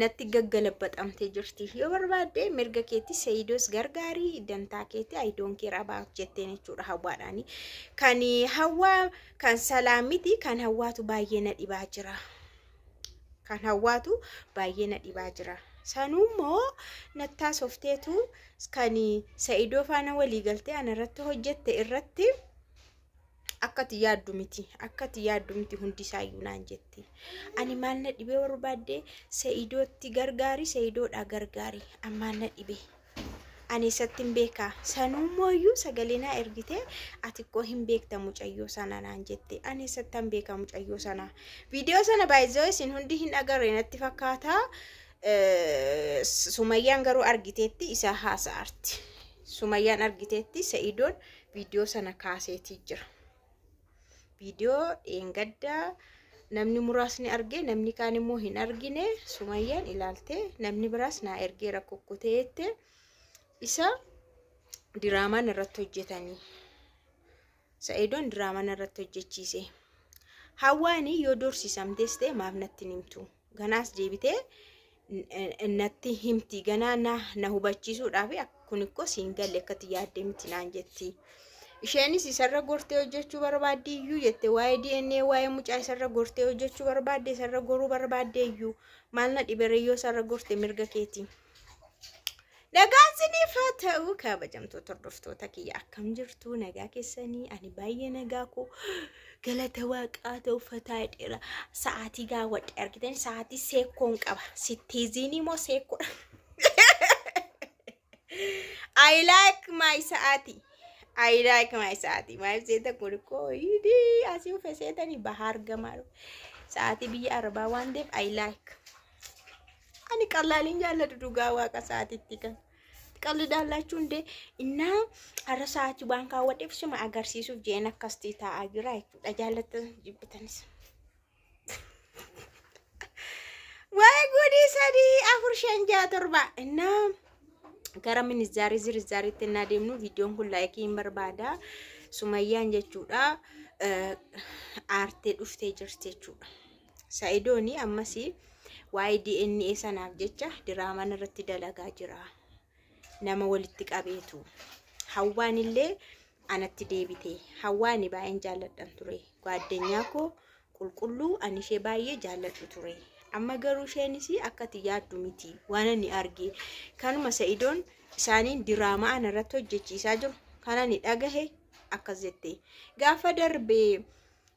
natti gaggalabbaxamtee jirti yoo barbaadde mirga keetti seeyidoos gargaarii dantaa keetti ayidoon kee rabaa jetteen jechuudha hawwaadhaani kan hawwaa kan salaa miti kan hawwaatu baay'ee na dhibaa jira kan hawwaatu baay'ee na dhibaa jira sanuu immoo nattaa softeetu kan sa'idoo faana walii galtee anarratti hojjette irratti akkati yaaddu miti akkati yaaddu miti hundi isaayyuu naan jetti ani maal na dhibee barbaadde se'idootti gargaari se'idoodhaa gargaari ammaan na dhibee ani isatti hin beekaa sanuu mooyyuu sagalee naa ergitee ati koo hin beekta mucayyoo sana naan jette ani isatti hin beekaa mucayyoo sana viidiyoo sana baay'isoo isin hundi hin agarre natti fakkaataa sumayyaan garuu argiteetti isaa haasa'arti sumayyaan argiteetti se'idoon viidiyoo sana kaaseetii jira. Viidiyoo dheengaddaa namni muraasni argee namni kaan immoo hin argine sumayyaan ilaaltee namni biraas naa ergee rakkukkutee jette isa diraamaan irratti hojjetanii sa'idoon diraamaan irratti hojjechiise. Hawwaanii yoo dorsisamtees ta'e maaf natti hin himtu Ganaas deebitee natti himti ganaa na na hubachiisuudhaaf kun ikkoo siin galle akkatti yaadde miti naan jetti. Isheenis isarra gortee hojjechuu barbaaddi iyyuu jette waa'ee DNA waa'ee mucaa isarra gortee hojjechuu barbaadde isarra goruu barbaadde iyyuu maal na dhiberee yoo isarra gorte mirga keeti. Nagaan siniif haa ta'u kabajamtoota hordoftoota kiyya akkam jirtu nagaa keessanii ani baay'ee nagaa koo galata waaqaa ta'u fataa dheera sa'aatii gaawwadhe argitan sa'aatii seekkoon qaba sittiiziinii moo seekkoodha. I like my sa'aatii. I like my sa'aatii. Maal seeta kun koo hidhi asii uffee seetanii bahaa argamaa. Sa'aatii biyya arbaa waan ta'eef I like. Ani qallaaliin jaalladhu dhugaa waaqa isaatiitti kan. Qalli daallachuu hundee innaa har'a sa'aatii waan kaawwadheef suma agarsiisuuf jeen akkasti taa'aa jira jechuudha. Jaallattan jibbitanis. Waa'ee guudii sadii afur shan ja'a torba innaa gara minizaarii zirizaariitti innaa deemnu viidiyoon kun laayikii hin barbaada. Sumayyaan jechuudha aartee dhuftee jirti jechuudha. Sa'idooni ammas waa'ee DNA sanaaf jecha diraamaan irratti dalagaa jira. Nama walitti qabeetu. Hawwaan illee anatti deebite. Hawwaani baay'een jaalladhan ture. Gaaddenyaa koo qulqulluu ani ishee baay'ee jaalladhu ture. Amma garuu isheenis akka ati yaaddu miti. Waan ani arge kanuma sa'idoon isaaniin diraamaa ana irratti hojjechiisaa jiru. Kan ani dhagahe akkas jette. Gaafa darbee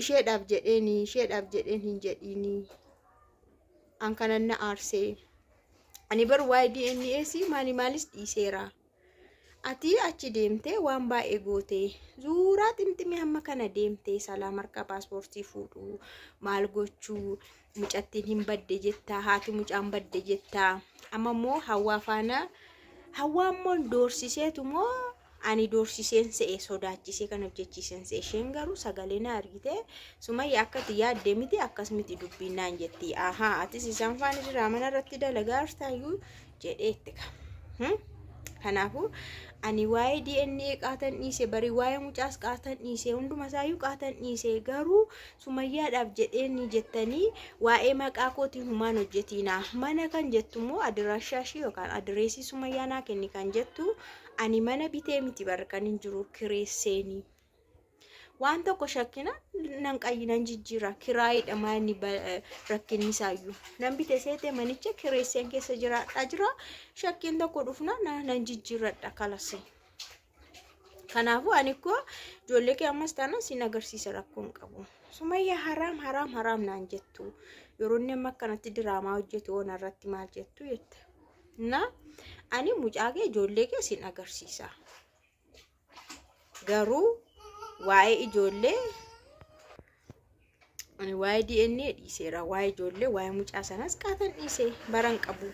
isheedhaaf jedheeni isheedhaaf jedheen hin jedhiini an kanan na aarsee ani bar waa'ee DNAs maali maalis dhiiseera ati achi deemtee waan baay'ee gootee zuuraa ximximii hamma kana deemtee salaam harka paaspoortii fuudhu maal gochuu mucattiin hin badde jettaa haati mucaan badde jettaa amma immoo hawaa faana hawaa immoo doorsiseetu moo Ani doorsiseen se'e sodaachisee kan hojjechiisen se'e isheen garuu sagalee na argite sumayya akka itti yaadde miti akkas miti dubbiin naan jetti ahaa atis isaan faana diraamana irratti dalagaa jirtaayyuu jedhee itti qaba. Kanaafuu ani waa'ee DNA qaatan dhiise barii waa'ee mucaas qaatan dhiise hunduma isaayyuu qaatan dhiise garuu sumayyaadhaaf jedhee ni jettanii waa'ee maqaa kootiin humaan hojjetiinaa mana kan jettu immoo adiraashaa ishii yookaan adireesii sumayyaa naa kenni kan jettu Ani mana bitee miti bar kan hin jiru kireesseeni. Waan tokko shakkina nan qayyi nan jijjiira kiraayiidha manni rakkinni isaayyuu. Nan bite seete manicha kireesseen keessa jiraadhaa jira shakkiin tokko dhufna nan jijjiiradha kalasi. Kanaafuu ani koo ijoollee kee ammas taana sin agarsiisa rakkoon qabu. Sumayya haraam haraam haraam naan jettu yeroo inni amma akkanatti diraamaa hojjetu oona irratti maal jettu jette. na ani mucaa kee ijoollee kee sin agarsiisa garuu waa'ee ijoollee ani waa'ee DNA dhiiseera waa'ee ijoollee waa'ee mucaa sanas qaatan dhiise baran qabu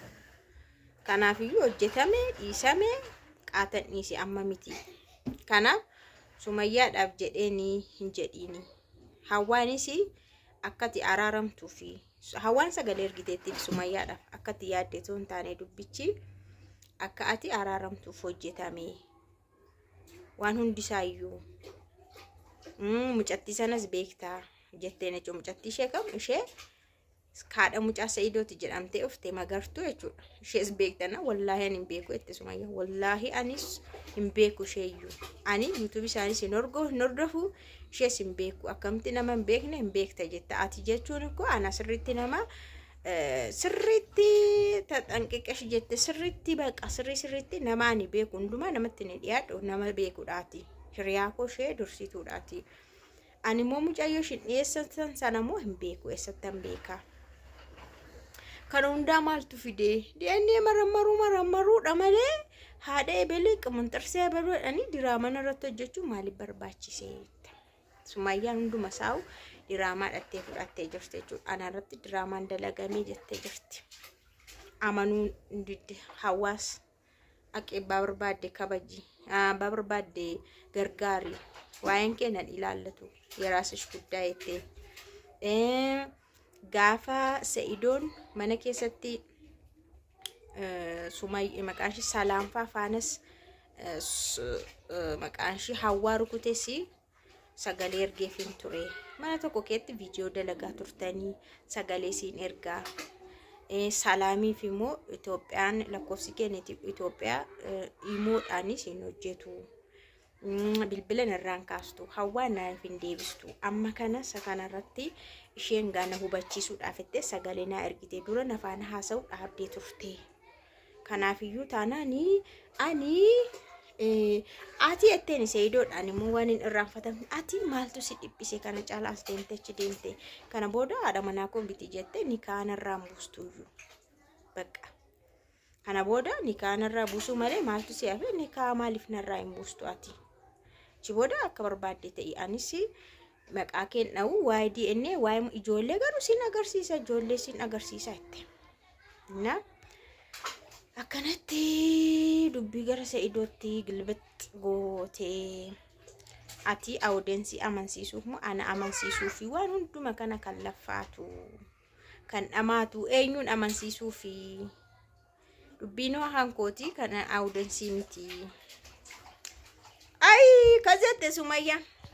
kanaafiyyuu hojjetame dhiisame qaatan dhiise amma miti kanaaf sumayyaadhaaf jedheenii hin jedhiini hawwaanis akkati araaramtuufi Hawwaan sagalee ergiteettiif sumayyaadhaaf akka itti yaadde osoo hin taane dubbichi akka ati araaramtuuf hojjetame waan hundisaayyuu Mm, mucattii sanas beektaa jetteen jechuudha mucattii ishee kam ishee kaadha mucaa sa'idooti jedhamtee ufte magartuu jechuudha ishees beektana wallaahi ani hin beeku jette sumayya wallaahi anis hin beeku isheeyyuu ani yuutuubii isaaniis hin horgo hin hordofu ishees hin beeku akkamti nama hin beekne hin beekta jetta ati jechuun ikkoo ana sirriitti nama sirriitti taxanqiqesh jette sirriitti baqa sirrii sirriitti nama ani beeku hundumaa namatti ni dhiyaadhu nama beekudhaati hiriyaa koo ishee dursituudhaati ani immoo mucayyoo ishin dhiyeessan sana immoo hin beeku eessattan beekaa Kana hundaa maaltu fidee? DNA marammaruu marammaruudha malee haadha ebelee qamanxarsee ebaluu jedhanii diraaman irratti hojjechuun maaliif barbaachise? Sumaayyaan hunduma saa'u diraamaa dhattee fudhattee jirti jechuudha. Ana irratti diraamaan dalagamee jettee jirti. Amanuu hin didde hawaasa. Aqi abbaa barbaadde kabaji. Abbaa barbaadde gargaari. Waa'een kee nan ilaallatu. Yeraasish guddaa jettee. Eh, Gaafa Sa'idoon mana keessatti eh, sumay eh, maqaan ishii salaanfaa faanas eh, su- eh, maqaan ishii hawwaa rukutesi sagalee ergeefin ture mana tokko keetti viidiyoo dalagaa turtanii sagalee siin ergaa salaamiif immoo Itoophiyaan lakkoofsi keenya Itoophiyaa imoodhaanis hin hojjetu bilbila irraan kaastu hawwaa naaf hin deebistu amma kana isa kanarratti isheen gaana hubachiisuudhaaf itti sagalee naa ergite dura nafaan haasa'u dhaabdee turte. Kanaafiyyuu taanaan ani ati jetteen seeyidoodhaan immoo waan hin irraanfatamne ati maaltu si dhiphise kana caalaa as deemte achi deemte kana booda haadha manaa koo miti jette ni kaanarraan buustuyyuu bakka kana booda ni kaanarraa buusuu malee maaltu si hafe ni kaa maaliif narraa hin buustu ati achi booda akka barbaadde ta'e anis maqaa keen dha'u waa'ee DNA waa'ee mu- ijoollee garuu sin agarsiisa ijoollee sin agarsiisa jette. Na akkanatti dubbii gara sa'idootti gilbixx gootee ati awudensii amansiisuuf moo ana amansiisuu fi waan hunduma kana kan laffaatu kan dhamaatu eenyuun amansiisuu fi dubbiin hoo hankooti kan awudensii miti. Ayi kazette sumayyaa.